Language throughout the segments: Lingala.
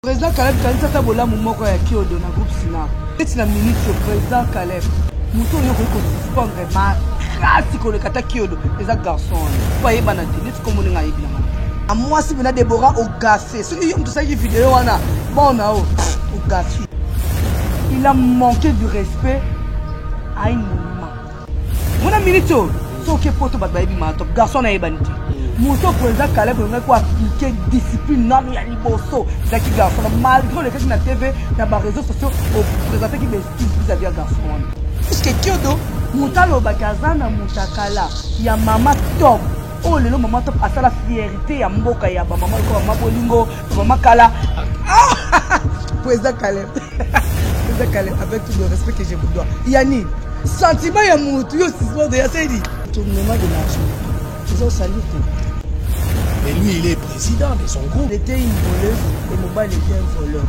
President Caleb kanisa ata bolamu moko ya Kiodo na groupe Sina. Neti na minute yo President Caleb moto oyo okoki kosuspendre makasi koleka ata Kiodo eza garçon wana po ayebana te neti kombo ndenge ayebi na mama. A mwasi pena Deborah ogafe soki yo moto osalaki video wana bona o ogafi. Il a manque du respect à une Mwana minute oyo soki epoto bato bayebi mato garçon nayebani te moto président kaleb olingaki ko appliquer discipline nano ya liboso ezalaki garçon malgré olekaki na tv na bareseau sociaux opresentaki bestise vis-à-vis ya garçon wana puisque kiodo moto alobaki aza na motakala ya mama top oyo lelo mama top asala fierité ya mboka ya bamama lokola mama bolingo Vraiment Kala. Ah Président Caleb. Président Caleb, avec tout le respect que je vous dois. Yanni, sentiment ya mutu yo sismo de Yassedi. Tournement de l'argent. Ils ont salué tout. Et lui, il est président de son groupe. Il était une voleuse et Mobile était un voleur.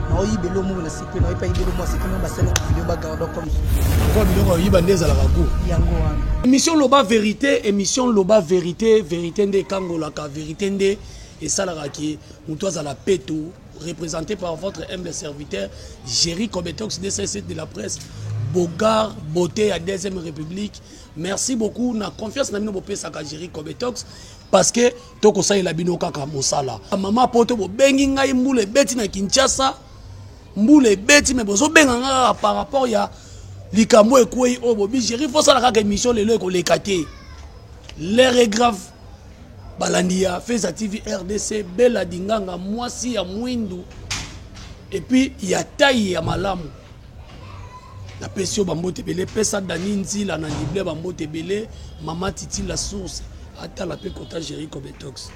naoyiba elomo na siki na oyepa yiba elomo asiki na basala video bagardo comme kwa biloko oyiba nde ezalaka go yango wana émission loba vérité émission loba vérité vérité nde ekangolaka Verite nde esalaka que mutu azala peto represente par votre humble serviteur Jerry Kobetox DCC de la presse Bogard beauté ya deuxième république merci beaucoup na confiance na bino bopesaka Jerry Kobetox parce que tokosalela bino kaka mosala mama poto bobengi ngai mbula ebeti na Kinshasa mbula ebeti me bozobenga ngai kaka par rapport ya likambo ekwei oyo bobi Jerry fosala kaka émission lelo ekoleka te l'heure est grave Balandi ya feza TV rdc bella dinganga mwasi ya mwindu epuis ya taille ya malamu napesi yo bambote ebele pesa dani nzila na lible bambote ebele mama titi la source atala mpe kota jerico betox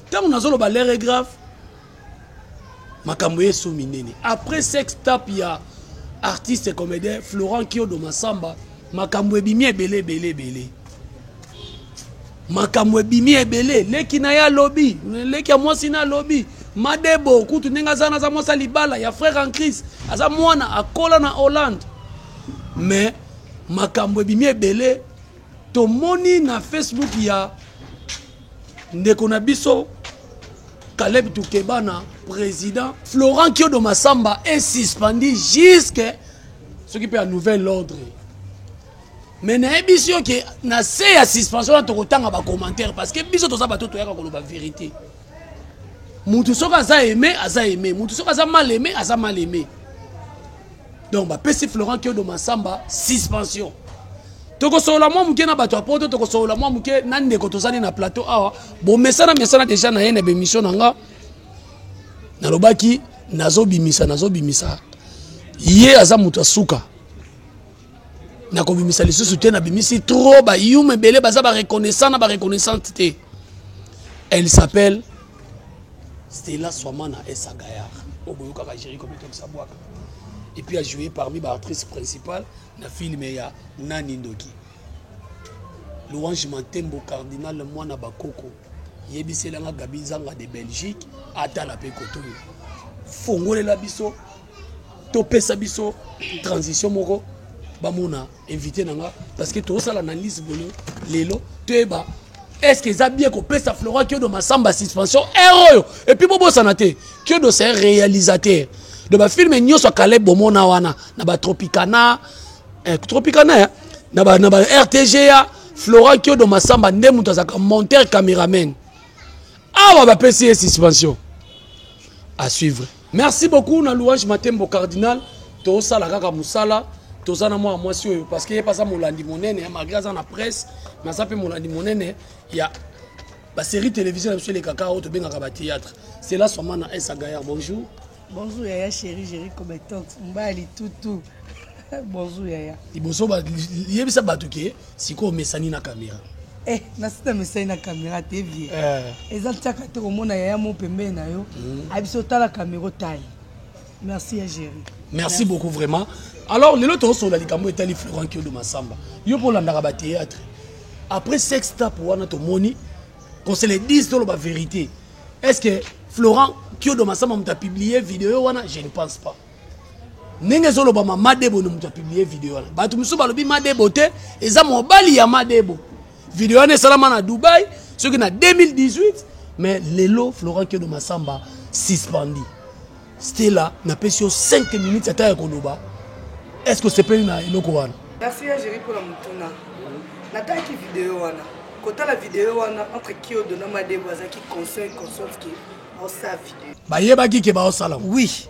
ntango nazoloba lere grave makambo yesu minene après sex tape ya artiste comédien florent kiodo masamba makambo ebimi ebele ebele ebele makambo ebimi ebele leki na ye alobi leki ya mwasi na alobi madebo kutu ndenge aza naza mwasi ya libala ya frère en crise aza mwana akola na hollande mais makambo ebimi ebele Tomoni na Facebook ya ndeko na biso Caleb Tukebana, président. Florent Kiodo Massamba est suspendu jusque ce qui peut un nouvel ordre. Mais na biso que na se ya suspension na tokotanga ba commentaires parce que biso toza bato toyaka koloba vérité. Mutu soki aza aimé, aza aimé. Mutu soki aza mal aimé, aza mal aimé. donc bapesi florent kiodo masamba suspension tokosolola mwa moke na bato ya poto tokosolola mwa moke na ndeko tozali na plateau awa bomesana mesana deja na ye na bemission na nga nalobaki nazobimisa nazobimisa ye aza moto ya suka nakobimisa lisusu te nabimisi trop bayuma ebele baza bareconnaissant na bareconnaissante te elle s'appelle stela swamana esagayar oyo boyokaka jeriko mitokisa bwaka et puis a jouer parmi ba actrices principales na film ya nani ndoki louange mantembo cardinal mwana bakoko yebisela nga gabi nzanga de belgique atala mpe kotoyo fongolela biso topesa biso transition moko bamona invite na nga parce que tozosala analyse boye lelo toyeba est ce que eza bien kopesa flora kiodo masamba suspension heure oyo epuis bobosana te kiodo c'est réalisateur de bafilme nyonso ya kaleb bomona wana na batropicana eh, tropicana ya na ba, na ba rtga flora kiodo masamba nde moto azalaka monteur cameraman awa bapesi ye suspension à suivre Merci beaucoup na louange matembo cardinal tosala kaka musala toza na mwana mwasi oyo parce que ye baza molandi monene malgré aza na presse mais aza mpe molandi monene ya basérie télévision na biso elekaka oyo tobengaka bathéâtre cela soma na esa gaillard bonjour bonjour yaya chéri géri cobetox mbali tutu bonjour yaya liboso yebisa bato ke Sikoyo omesani na camera? Eh nasi na mesani na camera te vie. Eh. Eza tiaka te komona yaya mo pembeni na yo. Mm. Abiso tala camera otaye. Merci ya Jerry. Merci, Merci beaucoup vraiment. Alors lelo tozosola likambo etali Florent Kiodo Masamba. Yo mpo olandaka ba théâtre. Après sex tap wana tomoni qu'on se le dise toloba vérité. Est-ce que Florent Kiodo Masamba moto a publié vidéo wana? Je ne pense pas. ndenge ezolobama madebo nde moto apiblie video wana bato mosusu balobi madebo te eza mobali ya madebo video wana esalama na dubai soki na 2018 mais lelo florent kedo masamba suspendi stela napesi yo 5 minutes ata ya koloba est ce que osepeli na eloko wana merci ya jeri mpona motuna natalaki video wana kotala video wana entre kiodo na madebo azalaki conscient consciente ke aosala video bayebaki ke baosala oui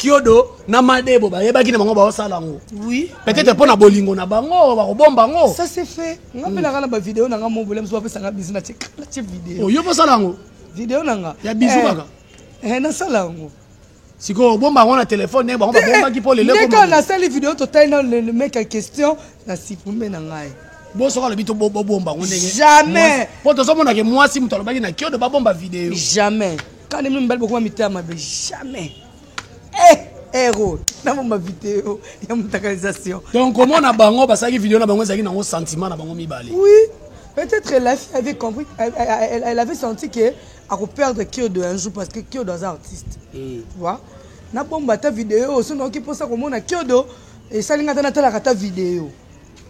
kiodo na madebo bayebaki na bango baosala yango oui. peut-être mpo na bolingo na bango bakobomba yango ça c'est fait nga mpe nanga na bavideo nanga mobole mosu bapesanga bisi na tie video oyo oh, bosala yango video nanga ya bisu eh, kaka eh, nasala yango sikoyo obomba yango na telefone ndenge bango babombaki mpo lelo ndeka nasali video totali na le mec ya question na sipume na ngai bo soki alobi tobomba yango ndenge jamais mpo tozomonake mwasi moto alobaki na kiodo babomba video jamais Kala mimi mibali bokoma mitema mabe jamais. Eh! ero na bomba video ya mutakalisation donc komona bango basalaki video na bango ezalaki nango sentiment na bango mibale oui peut-être la fille avait compris elle, elle, elle avait senti que akoperdre kiodo un jour parce que kiodo aza artiste mm. tu vois na bomba ata video oyo soki naoki mposa komona kiodo esali ngai ata natalaka ata video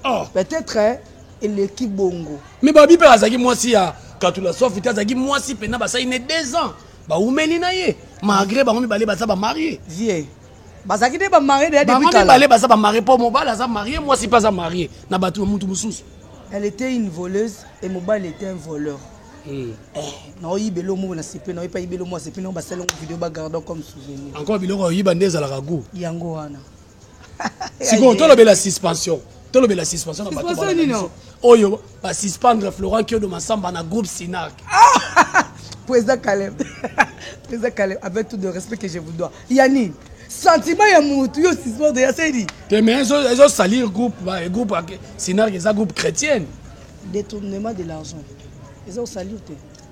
ah. peut-être eleki bongo me babi mpe azalaki mwasi ya katula sofi te azalaki mwasi mpena basali ne deux ans baumeli na ye malgré bango mibale baza bamarie vie bazalaki nde bamarie deyabango mibale baza bamarie mpo mobali aza marie mwasi mpe aza marie na bato ya motu mosusu elle était une voleuse et mobali était un voleur hmm. eh, naoyiba elomo na sepe naoyi mpe ayiba elomo ya sepe nao basalango video bagardan comme souvenir encore biloko oyiba nde ezalaka gout yango wana sikoyo tolobela suspension tolobela suspension na bato oyo basuspendre florent kiodo masamba na groupe sinac ah! président caleb président caleb avec tout de respect que je vous dois ya nini sentiment ya motu yo suspendre ya sedi te mais ezosalir groupe groupe sinac eza groupe chrétienne détournement de l'argent eza osalir te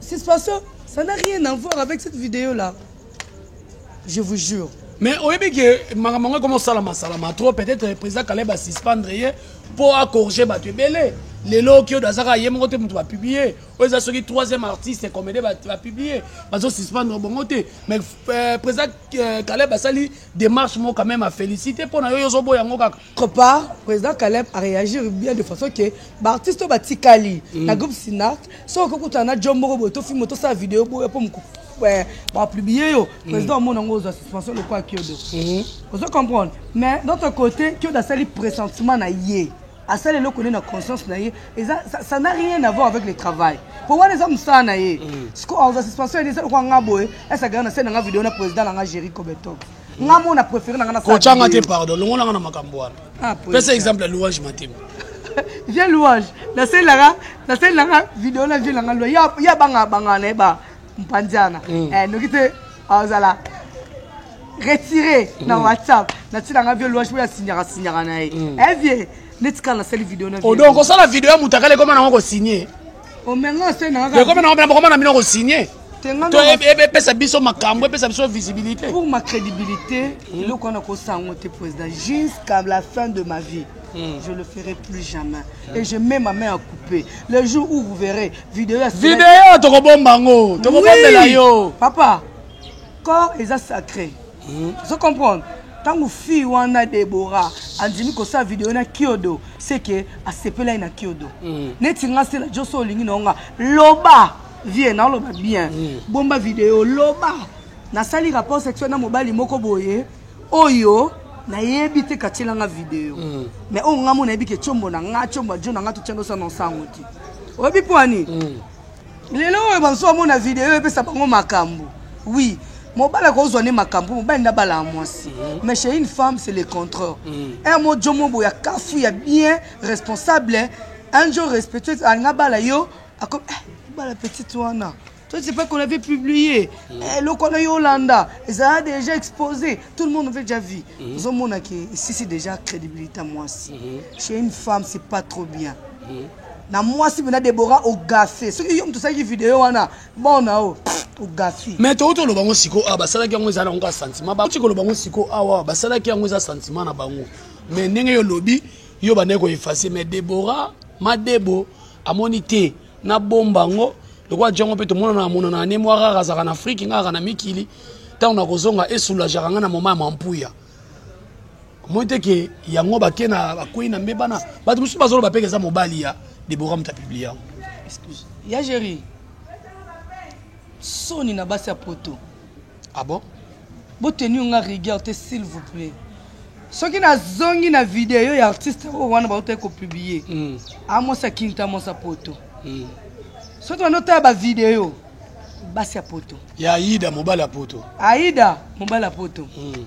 Suspension ça n'a rien à voir avec cette vidéo là. Je vous jure. mais oyebi ke makambo yango ekoma osalama salama trop peut-être président kaleb asuspendre ye mpo acorge bato ebele lelo okiodo azaka ye moko te moto bapiblie oyo eza soki troisième artiste comédie bapiblie bazosuspendre bongo te mais euh, président euh, kaleb asali démarche moko quand même afélicité mpo na yo yo ozoboya yango kaka Autre part, President Caleb a reagir bien de façon que ba artistes oyo batikali na groupe Sinart, soki okoki kokutana na job moko boye tofilme tosala video boye mpo moku eh, ba publier yo president omona yango ozwa suspension lokola Kiodo ozo comprendre mais d'autre côté Kiodo asali pressentiment na ye asali eloko nde na conscience na ye eza ça- ça n'a rien à voir avec le travail mpo wana eza mosala na ye siko azwa suspension ya ye eza lokola nga boye esakaka na se na nga video na president na nga Jericho Beton nga mo na préféré na nga na kocha nga te pardon longola nga na makambo wana ah, pesa exemple ya louange matema vie louange nasalelaka nasalelaka video na vie nanga lua ya banga banga na ye ba mpandiana mm. eh, noki te azala retire na mm. whatsapp natilanga vie louange mpo ya signaka signaka na ye mm. eh, vie netikala nasali video na odonk osala video ya moto akala ekoma nango kosigne ekomi na bokoma na bino kosigne to epesa biso makambo epesa biso visibilité pour ma crédibilité hmm. eloko wana kosa yango te président jusqu'à la fin de ma vie Hmm. Je le ferai plus jamais. Hmm. Et je mets ma main à couper. Le jour où vous verrez vidéo à Vidéo, tokobomba ngo, tokobombela yo. Papa, corps est sacré. Hum, ozo comprendre? Tango fille wana Deborah andimi kosala video na Kiodo, c'est que asepelaki na Kiodo. Mm. Neti nga Stella Joe so olingi na nga, loba vie na loba bien. Mm. Bomba video loba. Nasali rapport sexuel na mobali moko boye oyo nayebi te katiela nga video mm. mais oyo nga mo nayebi ke chombo na nga chombo ajo na nga totiandosa na nsango te oyebi mpo ani mm. lelo oyo bazo amona video epesa bango makambo oui mobali akozwa nde makambo mobali nde abala ya mwasi mhm. mais chez une femme c'est le contraire mhm. un mo jomo boya kafu ya bien responsable un jour respectueuse alinga abala yo ako eh, bala petite wana toi c'est pas qu'on avait publié mhm. eh, eloko wana yo olanda ezala déjà exposé tout le monde avait déjà vu ozomonaki esisi déjà crédibilité ya mwasi chez une femme c'est pas trop bien na mwasi pena debora ogafe soki yo moto osalaki video wana bon na yo ogafi mais toki toloba yango sikoyo awa basalaki yango eza na yango sentiment bauti koloba yango sikoyo awa basalaki yango eza sentiment na bango mais ndenge yo olobi yo bandaki koefase mais debora madebo amoni te nabomba yango lokola jango mpe tomonana amonana ne mwa rara azalaka na afrike nga aka na mikili ntango nakozonga esoulajaka nga na moma ya mampuya omoni te ke yango bake na bakwei na mbe bana bato mosusu bazoloba mpe eza mobali ya debora moto apiblie yango ya géri soni na basi ya poto abo ah boteni yo nga rigueur te s'il vous plaît soki nazongi na video ya artiste oyo wana bautaki kopublie mm. amwasi akinta mwasi ya poto mm. soki banda otala bavideo basi ya poto ya aida mobali ya poto aida mobali ya poto mm.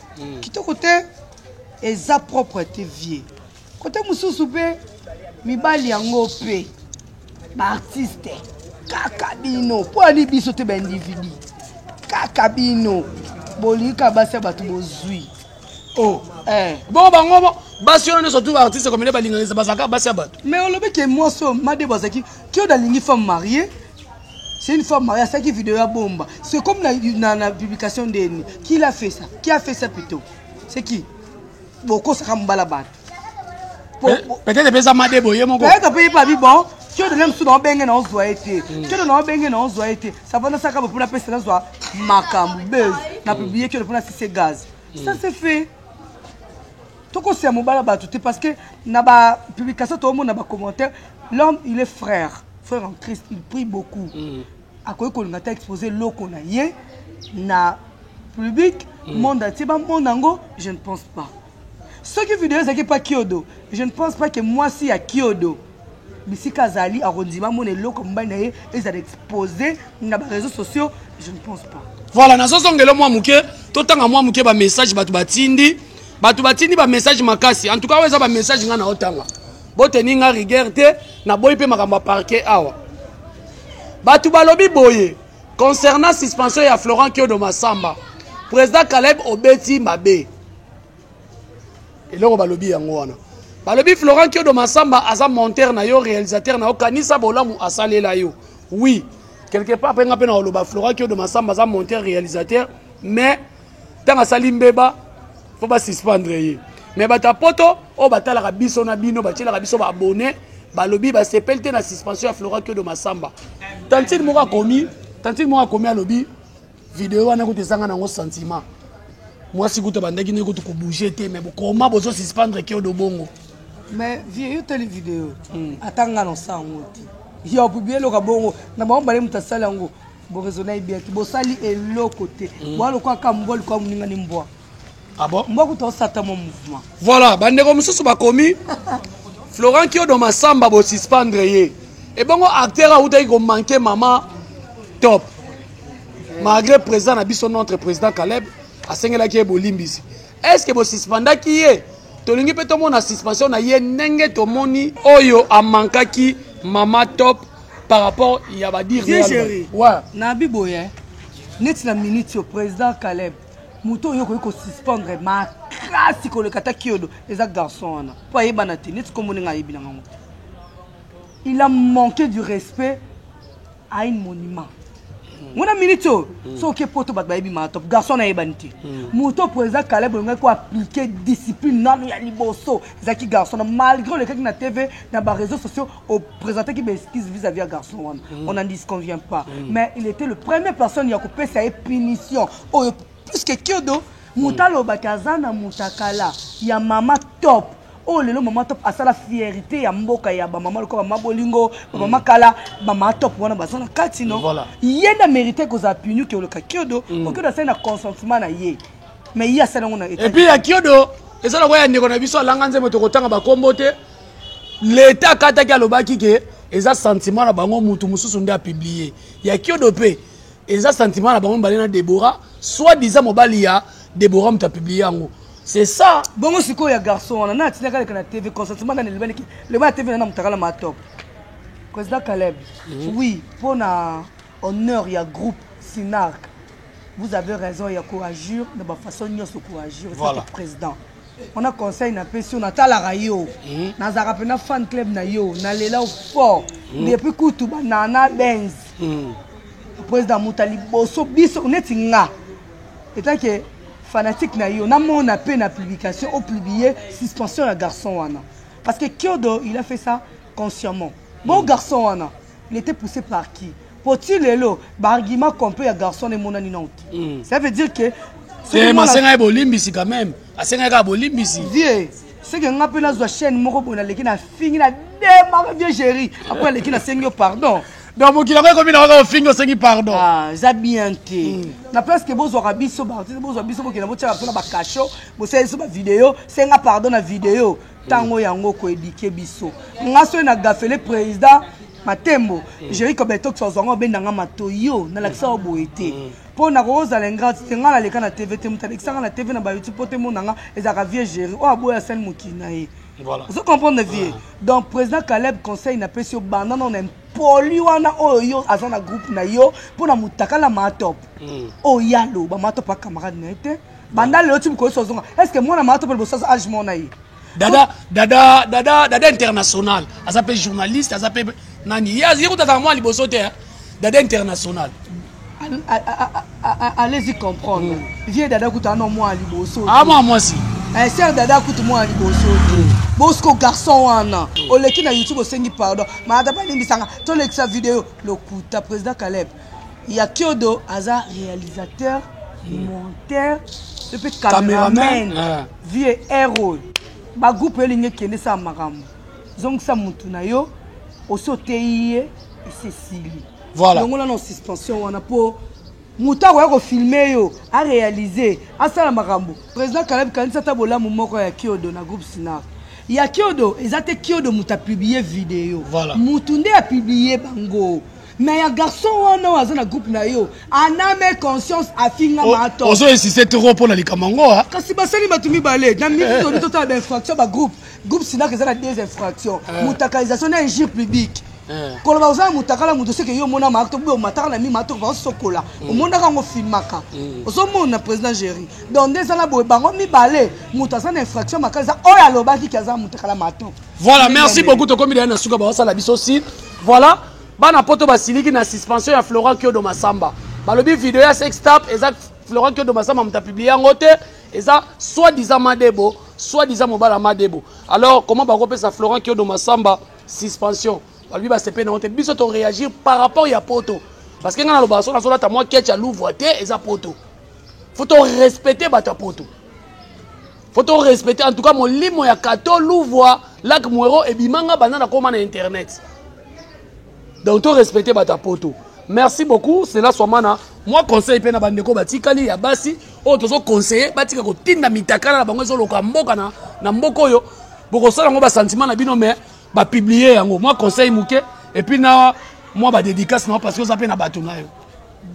Kitoko te eza propre te vie kote mosusu mpe mibali yango mpe baartiste kaka bino mpo ani biso te baindividi kaka bino bolika basi ya bato bozwi oh. eh. bo bango basi wana nyonso tu baartiste komele balinganisa bazalaka basi ya bato mais olobi ke mwasi oyo madebo azalaki kioda alingi femme marie C'est une femme mariée, ça qui vidéo à bomba. C'est comme la, la, la publication de Qui l'a fait ça Qui a fait ça plutôt C'est qui Boko Sakambala Bat. Peut-être que ça m'a débrouillé mon gars. Peut-être que ça m'a débrouillé kyoto na mosusu naobenge na ozwa ye te mm. kyoto naobenge na ozwa ye te savana saka bo mpona pesa nazwa makambo buzz na publie kyoto mpona sise gaz ça mm. se fait tokosia mobala bato te parce que na ba publication toomona ba commentaire l'homme il est frère frère en christ il prie beaucoup mm. akoki kolinga ta expose loko na ye na public mm. monde atie bamona yango je ne pense pas soki video ezalaki pa kiodo je ne pense pas que mwasi ya kiodo bisika azali akondima amona eloko mobali na ye ezala expose na ba réseaux sociaux je ne pense pas voilà nazozongela mwa moke totanga mwa moke bamessage bato batindi bato batindi bamessage makasi en tout cas oyo eza bamessage ngai naotanga boteni ngai rigueur te naboyi mpe makambo ya parquet awa bato balobi boye concernant suspension ya florent kiodo masamba président caleb obeti mabe eloko balobi yango wana balobi florent kiodo masamba aza monteur na yo réalisateur na yo kanisa bolamu asalela yo oui quelque part mpe nga mpe nakoloba florent kiodo masamba aza monteur réalisateur mais ntango asali mbeba fo basuspendre ye mais bato ya poto oyo batalaka biso na bino batielaka biso baabonne balobi basepeli te na suspension ya florent kiodo masamba tantine moko akomi tantine moko akomi alobi Video wana kutu ezanga nango sentiment. Mwasi kutu abandaki nde kutu kobouge te mais bokoma bozo suspendre keo do bongo. Mais vieux yo tali video. Hmm. Ata nga na sango te. Yo pubi eloka bongo na bango bale moto asali yango boraisonnai bien te bosali eloko te hmm. boalokoaka mbwa likoa moningani mbwa Ah bon? Mboku to sata mon mouvement. Voilà, bandeko mosusu bakomi Florent Kiodo Masamba bo suspendre ye. Ebongo acteur autaki ko manquer maman top. Malgré président na biso notre président Caleb asengelaki ye bolimbisi. Est-ce que bo suspendaki ye? Tolingi pe tomona suspension na ye ndenge tomoni oyo amankaki maman top par rapport ya ba dire. Vieux chéri. Ouais. Na biboye. Neti na minute yo président Caleb moto oyo okoki kosuspendre makasi koleka ata kiodo eza garçon wana mpo ayebana te neti kombo ndenge ayebi na ngango il a manqué du respect à une monument ngona minute oyo mm. soki oke poto bato bayebi maa top garçon wana ayebani te mm. moto mpo eza kaleb olingaki koaplike discipline nano ya liboso ezalaki garçon na malgré olekaki na tv na bareseau sociaux o presentaki ba excuse vis à vis ya garçon wana on n'en disconvient pas mais il était le premier personne ya kopesa ye punition oyo puisque kiodo moto alobaki aza na mutakala ya mama top oyo lelo mama top asala fierité ya mboka ya bamama lokola bamama bolingo bamama kala bamama top wana baza na kati no Voilà. ye nde amerite kozala puni ke oloka kiodo po kiodo asali na consentement na ye mais ye asali yango na etat epuis ya kiodo eza lokola ya ndeko na biso alanga nzembo tokotanga bakombo te leta akataki alobaki ke eza sentiment na bango mutu mosusu nde apublie ya kiodo mpe eza sentiment na bango mibale na debora soit disant mobali ya debora moto apublie yango c'est ça bongo sikoyo ya garçon wana na atindaka leka na tv consentement nani elobani ke loba na tv nana motakala ma top président caleb mhm. oui mpo na honneur ya groupe sinarc vous avez raison ya koagir na bafaçon nyonso koagir voilà. président Wana conseil na pesi yo natalaka yo hmm. nazalaka pena fan club na yo nalela fort hmm. depuis kutu banana benz hmm. président muta liboso biso neti nga etake fanatique na yo namona mpe na publication opublie suspension ya garçon wana parce que kiodo il a fait ça consciemment bon garçon wana il était poussé par qui po ti lelo ba argument complet ya garçon na emonani nao te mm. ça veut dire que tema asengaki bolimbisi quand même asengaki kaka bolimbisi vie soki nga mpe nazwa chaîne moko boye naleki na fingi na demaka vie géri apres aleki nasengi yo pardon donc mokili yango ekomi na kaka ofingi osengi pardon ah, eza bien te hmm. na place ke bozwaka biso baartiste bozwa biso bokenda botyaka mpo na bacasho bosala biso bavideo senga pardon na video ntango yango koedike biso nga soki na gafele président matembo jeri kobeta okisa ozwanga obenda nga mato yo nalakisa yo boye te mpo nakoki ozala ingrate te ngai naleka na tv te moto alekisa ngai na tv na bayoutube mpo te mona nga ezalaka vie jeri oyo aboya sani mokili na ye ozo comprendre vie donc président caleb conseil napesi yo banda nao na impoli wana oyo yo aza na groupe na yo mpo na motakala matop oyo ye aloba matop acamarade na ye te banda lelo ti mokolo so ozonga est ce que mwana matop liboso aza age mona ye dada dada dada dada international aza mpe journaliste aza mpe nani ye kotataka mwa liboso te dada international allez-y comprendre mm. vieux dada kutu ano mwa liboso ah mwa mwasi eh, ser dada kutu mwa liboso te mm. bosko garçon wana mm. oleki na youtube osengi pardon maata balimbisanga tolekisa video lokuta président caleb Ya kiodo aza realisateur, monteur et puis cameraman. Vieux Erol. Ba groupe yo lingi kende sa makambo. Zongisa mutu na yo osi oteyi ye esi esili. Voilà. Longola na suspension wana po moto akoya kofilme yo arealize asala makambo président kalabi kanisa ata bolamu moko ya kiodo na groupe sinar ya kiodo eza te kiodo moto apiblie video voilà. moto nde apiblie bango Mais ya garçon wana oyo aza na groupe na yo aname conscience afinga oh, mato ozo insiste trop mpo na likambo yango ah. kasi basali bato mibale na midi eh. toni totala bainfraction bagroupe groupe sinaka eza na deux infraction eh. mutakalisation na injure publique eh. koloba oza na mutakala moto soki yo omona maaka tobe omataka na mi maaka tokoba osokola mm. omonaka yango filmaka mm. ozomona président géri donc nde eza na boye bango mibale moto aza na infraction makasi oyo alobaki ke aza na mutakala mato voilà merci beaucoup tokomi deya na suka baosala biso site voilà Bana poto basiliki na suspension ya Florent Kyodo Massamba. Balobi video ya sextape eza Florent Kyodo Massamba muta publier yango te, eza soit disant Madebo, soit disant mobala Madebo. Alors comment bakopesa Florent Kyodo Massamba suspension? Balobi basepe na te biso to réagir par rapport ya poto. Parce que nga na loba so na solata moi ketch ya Louvre te eza poto. Faut to respecter bata poto. faut to respecter en tout cas molimo ya kato luvua lac muero ebimanga banda nakoma na internet donc to respecter bato ya poto merci beaucoup cela swamana mwa conseil mpe na bandeko batikali ya basi oyo tozoconseille batika kotinda mitakala na bango ezoloka mboka na, na mboka oyo bokosala yango basentiment na bino mais bapublie yango mwa conseil moke epuis na mwa badédicace na yo parce que oza mpe na bato na yo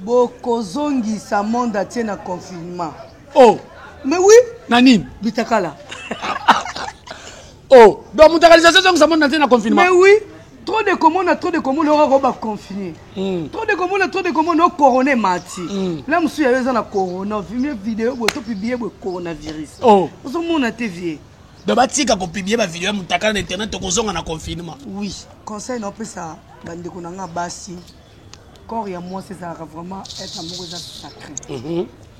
bokozongisa monde atie na confinement oh mais oui na nini bitakala oh donc mutakalisation ezongisa moni na te na confinement mais oui trop de komona trop de komona oyo akoba confine hmm. trop de komona trop de komona o corona emati hmm. la mosusu yayo eza na corona vimie video boye to publie boye coronavirus oh. ozomona te vie donc batika kopiblie bavideo ya motakala na internet tokozonga na confinement oui conseil naopesa bandeko na nga basi corps ya mwasi ezalaka vraiment etre moko eza sacré mhm.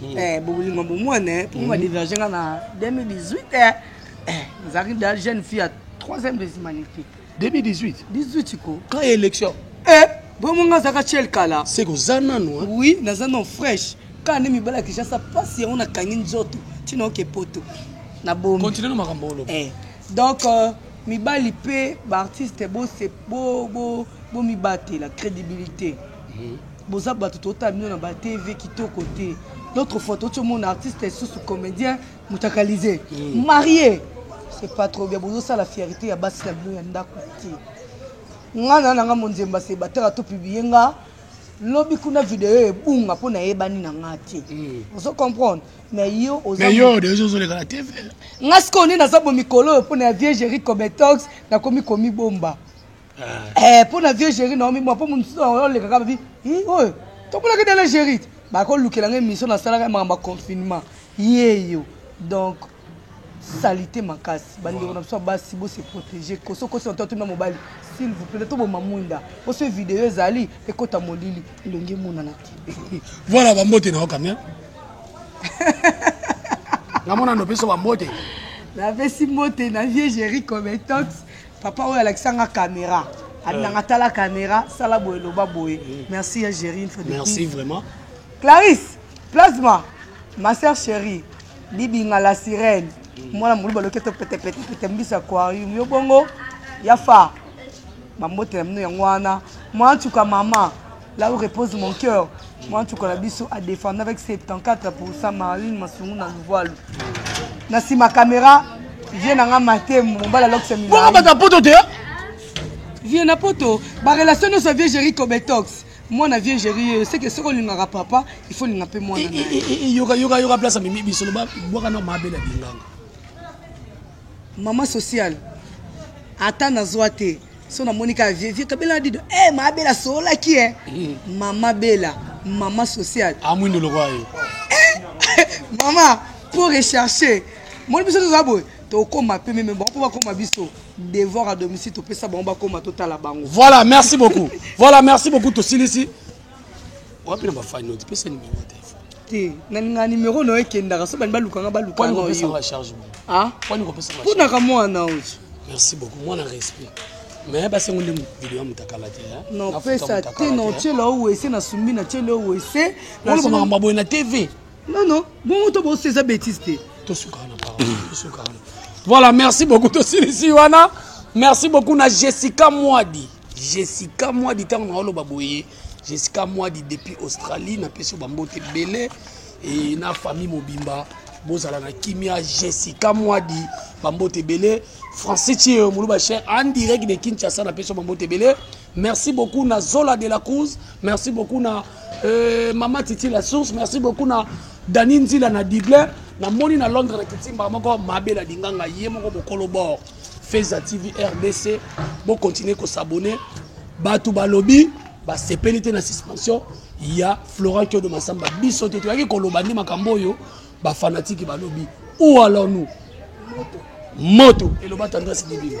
hmm. eh, bolingo bomwana eh, mpo ba hmm. diverge nga na 2018 eh, eh, nazalaki da jeune fille ya troisième des humanités 2018 18 ko quand élection eh, bomo nga azalaka chel kala se koza nano eh? oui naza non fraîche kaka nde mibala ya kinshasa mpasi yango nakangi nzoto ntina oke poto na bomi continue na makambo oloba eh. donc euh, mibali mpe baartiste bomibatela crédibilité mm -hmm. Boza batu totala bino na ba TV kitoko te d'autre fois toti omona artiste susu comedien mutakalize mm. marie c'est pas trop bien bozo sala fierté ya basi na bino ya ndaku te nga na nanga monzemba se bataka to publier nga lobi kuna video ebunga mpo nayebani na nga te hmm. ozo comprendre mais yo ozozolekana te nga sikoyo nini naza bo mikolo oyo mpo na ya viegerie cometox nakomi komibomba eh mpo na vieux géri naomi mwa mpo mosusu oleka kaka bi oyo tomonaki dala géri bakolukela ngai émission nasalaka makambo ya confinement yeyo donc salite makasi bandeko na biso ya basi bose protege koso okosi na to atuna mobali s'il vous plaît toboma mwinda oso video ezali ekota molili elongi emonana te voilà bambote na yo kamia namona nopesa bambote napesi mbote na vieux géri cometox Papa oyo alakisa nga camera. Abinanga euh. tala camera, sala boye loba boye. Mm. Merci ya Jerry une fois de plus. Merci vraiment. Clarisse, plasma, ma sœur chérie, Bibinga la sirène. Mm. Mwana muluba loketo pete pete pete mbisa aquarium. Yo bongo ya fa. Mambote na mino yango wana. Mwa ntuka mama. Là où repose mon cœur, moi tu connais biso a défendre avec 74% Marlene Masungu na Luvalu. Na sima caméra, vieux nanga Matembo, mbala lokse mingi. Bongo bata poto te. Vieux na poto, ba relation no sa vieux Jerry Cobetox. mwana vieux géri oyo seke soki olingaka papa il faut olinga mpe mwana yoka yoka yoka place amemi bisolo bwaka na mabe na binganga mama sociale ata nazwa te so namoni kaka vie vie kabela na dido e mama bela soolaki e mama bela mama sociale amwindo ah, lokola yo eh, mama mpo recherche moni biso toza boye tokoma mpe meme bango mpo bakoma biso devoir à domicile topesa bango bakoma totala bango voilà merci beaucoup voilà merci beaucoup tosilisi wapi na bafani oti pesa nimero ya telefone te nalinga nimero na yo ekendaka so bani balukanga balukaponaka mwana oyo merci beaucoup mwana respect mais basengo nde video ya mutakala te nopesa te notyela o wese nasumbi natyela o wese makambo boye na tv nono bongo to bosi eza bétise te tosukaka na parole tosukaka na voilà merci beaucoup tosilisi wana merci beaucoup na jessica mwadi Jessica muadi tango na oloba boye Jessica muadi depuis Australie na pesi ba mbote ebele et na famille mobimba bozala na kimia Jessica muadi ba mbote ebele français tio muluba cher en direct de Kinshasa na pesi ba mbote ebele merci beaucoup na Zola de la Cruz merci beaucoup na euh, Mama Titi la source merci beaucoup na Dani Nzila na Dublin na moni na Londres na Kitimba moko mabela dinganga ye moko bokolo bord Feza TV rdc bo continuer ko s'abonner batu balobi basepeli te na suspension ya Florent Kiodo Massamba biso te toyaki koloba nde makambo oyo bafanatiki balobi ou alors nous moto eloba tendance libima